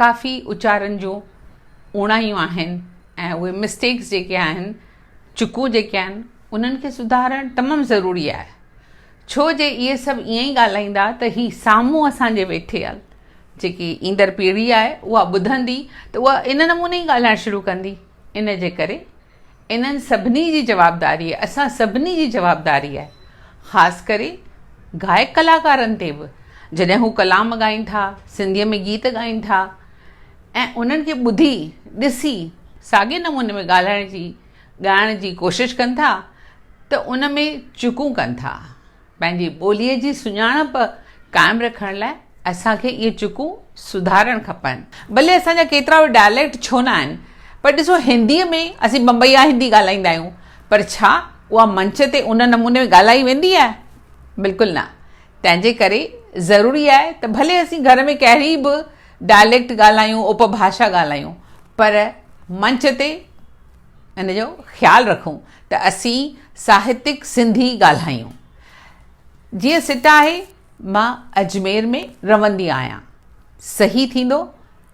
ڪافي اچارن جون اوڻايون آهن ۽ اهي مسٽيڪس جيڪي آهن چڪون جيڪي آهن انهن کي سڌارڻ تمام ضروري آهي ڇو جي اهي سڀ ائين ئي ڳالهائيندا ته هي سامهون اسان جي ويٺيل جيڪي ايندڙ پيڙهي آهي اها ٻڌندي ته اها ان نموني ئي ڳالهائڻ شروع ڪندي ان جي ڪري انهن سڀني جي جوابداري اسان سڀني جي جوابداري آهي خاص ڪري گائڪ ڪلاڪارن تي به جڏهن هو ڪلام ڳائين ٿا سنڌي ۾ گيت ڳائين ٿا ۽ انهن کي ٻڌي ڏسي ساڳي نموني ۾ ڳالهائڻ جي ڳائڻ جي ڪوشش ڪن ٿا ته ان ۾ چوڪون ڪن ٿا پنهنجي ٻوليء جي سڃاڻپ قائم رکڻ لاء اسان کي اهي چڪون سڌارڻ کپن. ڀلي اسان جا ڪيترا به ڊائليڪٽ ڇو نه آهن، پر ڏسو هنديء ۾ اسين بمبئيا هندي ڳالهائيندا آهيون، پر ڇا اها منچ تي ان نموني ۾ ڳالهائي ويندي آهي؟ بلڪل نه. تنهنجي ڪري ضروري آهي ته ڀلي اسين گهر ۾ ڪهڙي به ڊائليڪٽ ڳالهايون، اپڀاشا ڳالهايون، پر منچ تي، ان جو خيال رکون ته اسين ساهتڪ سنڌي ڳالهايون. جيئن سٽ آهي، مان اجمير ۾ رهندي آهيان. صحيح ٿيندو،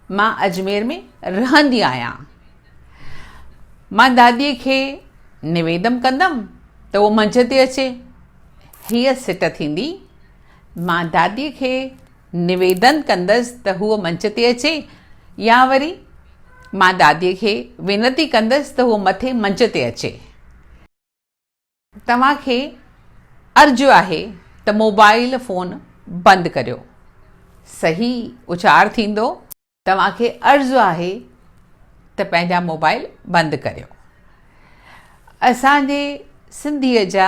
مان اجمير ۾ رهندي آهيان. مان داديء کي نويدم ڪندم ته هوء منجهه تي اچي. هيء سٽ ٿيندي، مان داديء کي نويدن ڪندس ته هوء منچ تي اچي يا وري مان داديء کي وينتي ڪندس ته هوء مٿي منچ تي اچي. توهان کي عرض آهي ته موبائيل فون بند ڪريو. صحيح اچار ٿيندو. توهان کي عرض آهي ته پنهنجا موبائل بند ڪريو اسان جي سنڌي جا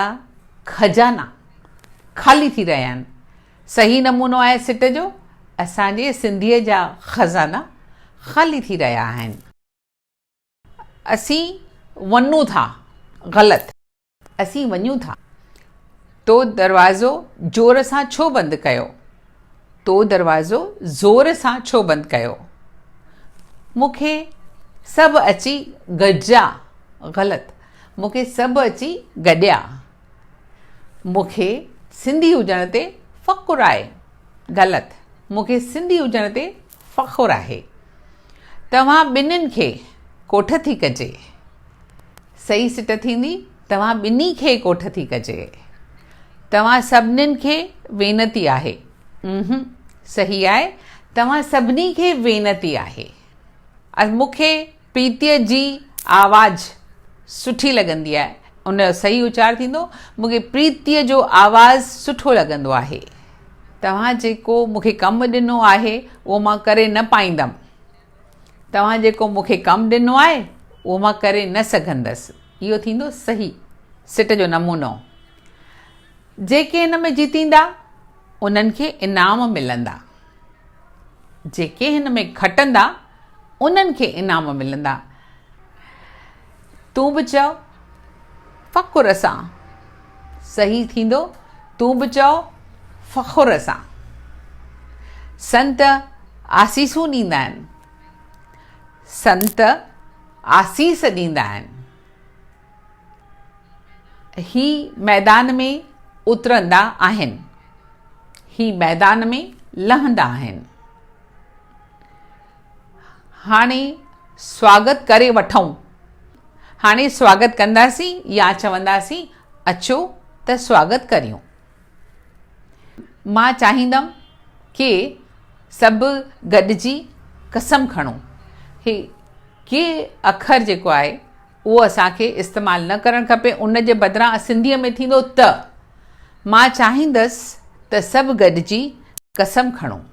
خزانا خالي ٿي رهيا آهن صحيح نمونو آهي سٽ جو اسان جي سنڌي جا خزانا خالي ٿي رهيا آهن. اسين ونون ٿا غلط. اسين وڃون ٿا. تو دروازو جور سان ڇو بند ڪيو؟ تو دروازو زور سان ڇو بند ڪيو؟ مون کي سڀ اچي گڏجا غلط. مون کي سڀ اچي گڏيا. مون کي سنڌي هجڻ تي فخر آهي غلط. مون کي سنڌي هجڻ تي فخر آهي توهان ٻنهين کي ڪوٺ ٿي ڪجي. صحيح سٽ ٿيندي توهان ٻنهي کي ڪوٺ ٿي ڪجي. توهان سڀنين کي وينتي آهي. امم صحيح آهي توهان سڀني کي وينتي آهي. مون کي. پريتيء جي آواز سٺي لڳندي آهي ان جو صحيح اچار ٿيندو مون کي پريتيء جو آواز سٺو لڳندو آهي توهان جيڪو مون کي ڪم ڏنو آهي اهو مان ڪري نه پائيندم توهان جيڪو مون کي ڪم ڏنو آهي اهو مان ڪري نه سگهندس اهو ٿيندو صحيح سٽ جو نمونو جيڪي ان ۾ جيتيندا انهن کي انعام ملندا جيڪي هن ۾ کٽندا، انهن کي انعام ملندا. تون به چئو، فخر سان. صحيح ٿيندو، تون به چئو، فخر سان. سنت آسيسون ڏيندا آهن. سنت آسيس ڏيندا آهن. هي ميدان ۾ اترندا آهن. هي ميدان ۾ لهندا آهن. هاڻي سواگت ڪري وٺون. هاڻي سواگت ڪنداسين يا چونداسين اچو ته سواگت ڪريون. مان چاهيندم ڪي سڀ گڏجي قسم کڻون. هي ڪي اکر جيڪو آهي. اهو اسان کي استعمال نه ڪرڻ کپي، ان جي بدران سنڌيء ۾ ٿيندو ته، مان چاهيندس ته سڀ گڏجي قسم کڻون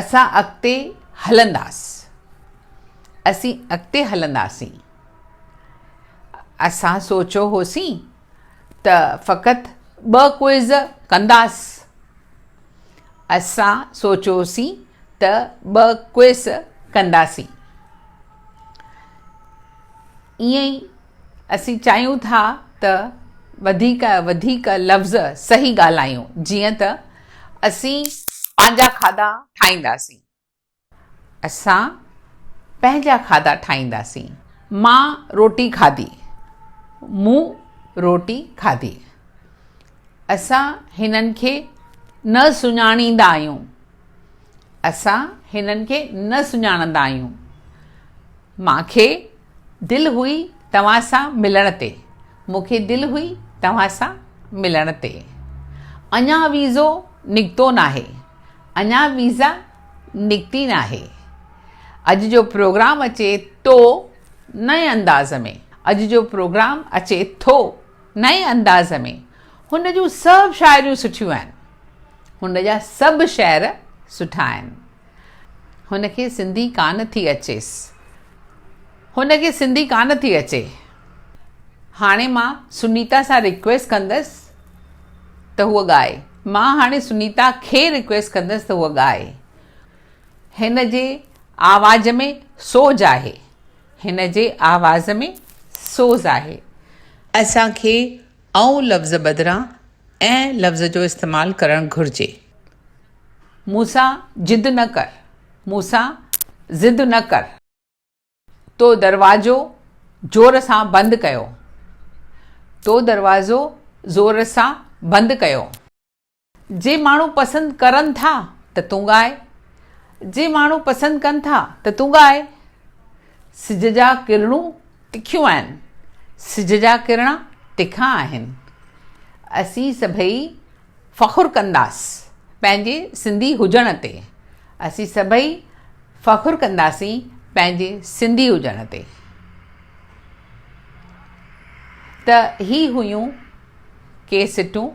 اسان اڳتي هلنداس، اسين اڳتي هلنداسين، اسان سوچيو هوسين ته فقط ٻه ڪوئز ڪنداس، اسان سوچيو هوسين ته ٻه ڪوئز ڪنداسين. ائين ئي اسين چاهيون ٿا ته وڌيڪ وڌيڪ لفظ صحيح ڳالهايون جيئن ته اسين پنهنجا کاڌا ٺاهينداسين اسان پنهنجا کاڌا ٺاهينداسين مان روٽي کاڌي مون روٽي کاڌي اسان هنن کي نه سڃاڻيندا آهيون اسان هنن کي نه سڃاڻندا آهيون. مان کي دل هئي توهان سان ملڻ تي. مون کي دل هئي توهان سان ملڻ تي. اڃا ويزو نڪتو ناهي. اڃا ويزا نڪتي ناهي. اڄ جو پروگرام اچي تو نئين انداز ۾. اڄ جو پروگرام اچي ٿو نئين انداز ۾. هن جون سڀ شاعريون سٺيون آهن. هن جا سڀ شعر سٺا آهن. هن کي سنڌي ڪانه ٿي اچيس. هن کي سنڌي ڪانه ٿي اچي. هاڻي مان سنيتا سان ريڪويسٽ ڪندس ته هوء ڳائي. مان هاڻي سنيتا کي ريڪويسٽ ڪندس ته هوء ڳائي. هن جي آواز ۾ سوز آهي. هن جي آواز ۾ سوز آهي. اسان کي ائون لفظ بدران ائين لفظ جو استعمال ڪرڻ گهرجي. مون سان جد نه ڪر. مون سان ضد نه ڪر. تو دروازو زور سان بند ڪيو. تو دروازو زور سان بند ڪيو. جي ماڻهو پسند ڪرن ٿا ته تون ڳاء. جي ماڻهو پسند ڪن ٿا ته تون ڳاء. سج جا ڪرڻون تکيون آهن. سج جا ڪرڻا تکا آهن. اسين سڀئي فخر ڪنداس پنهنجي سنڌي هجڻ تي. اسين سڀئي فخر ڪنداسين پنهنجي سنڌي هجڻ تي. ته هي هيون ڪي سٽون.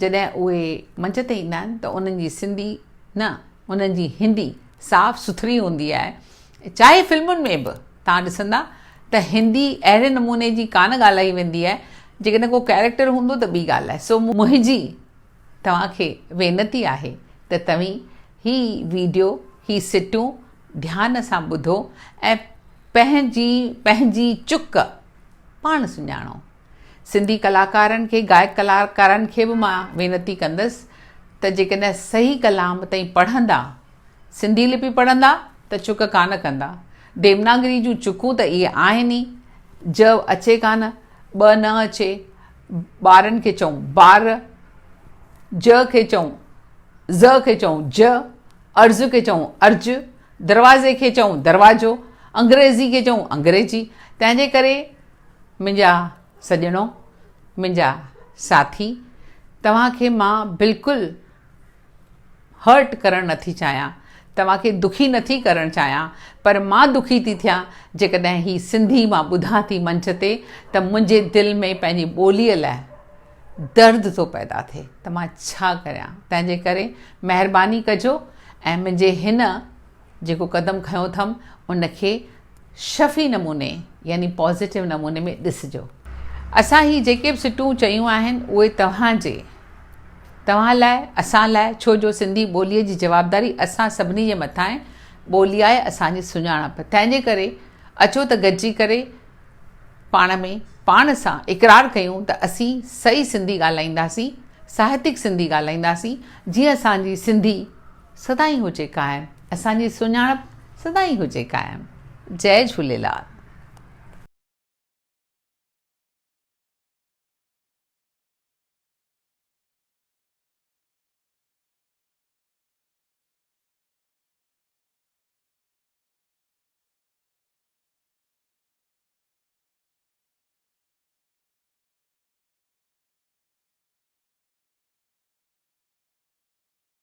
جڏهن اهي منچ تي ايندا آهن ته انهن جي سنڌي نه انهن جي هندي صاف سٿري هوندي آهي چاهي فلمن ۾ به توهان ڏسندا ته هندي اهڙي نموني جي ڪانه ڳالهائي ويندي آهي جيڪڏهن ڪو ڪيريڪٽر هوندو ته ٻي ڳالهه آهي سو منهنجي توهان کي وينتي آهي ته توهين هي ويڊيو هي سٽون ڌيان سان ٻڌو ۽ پنهنجي پنهنجي چڪ پاڻ سڃاڻو. سنڌي ڪلاڪارن کي گائڪ ڪلاڪارن کي به مان وينتي ڪندس ته جيڪڏهن صحيح ڪلام تائين پڙهندا سنڌي لپي پڙهندا ته چڪ ڪانه ڪندا ديوناگري جون چڪون ته اهي آهن ئي ج اچي ڪانه ٻه نه اچي ٻارن کي چئون بار ج کي چئون ز کي چئون ج ارز کي چئون ارج دروازي کي چئون دروازو انگريزي کي چئون انگريزي تنهنجي ڪري منهنجا سڄڻو، منهنجا ساٿي، توهان کي مان بلڪل Hurt ڪرڻ نٿي چاهيان، توهان کي دکي نٿي ڪرڻ چاهيان پر مان دکي ٿي ٿيان جيڪڏهن هي سنڌي مان ٻڌان ٿي منچ تي ته منهنجي دل ۾ پنهنجي ٻوليء لاء درد ٿو پيدا ٿئي ته مان ڇا ڪريان تنهنجي ڪري مهرباني ڪجو ۽ منهنجي هن جيڪو قدم کنيو اٿم ان کي شفهي نموني يعني پازيٽو نموني ۾ ڏسجو. اسان هي جيڪي به سٽون چيون آهن اهي توهان جي توهان لاء اسان لاء ڇو جو سنڌي ٻوليء جي جوابداري اسان سڀني جي مٿان آهي ٻولي آهي اسان جي سڃاڻپ تنهنجي ڪري اچو ته گڏجي ڪري پاڻ ۾ پاڻ سان اقرار ڪيون ته اسين سهي سنڌي ڳالهائينداسين ساهتڪ سنڌي ڳالهائينداسين جيئن اسان جي سنڌي سدائين هجي قائم اسان جي سڃاڻپ سدائين هجي قائم جئي جهوليلال.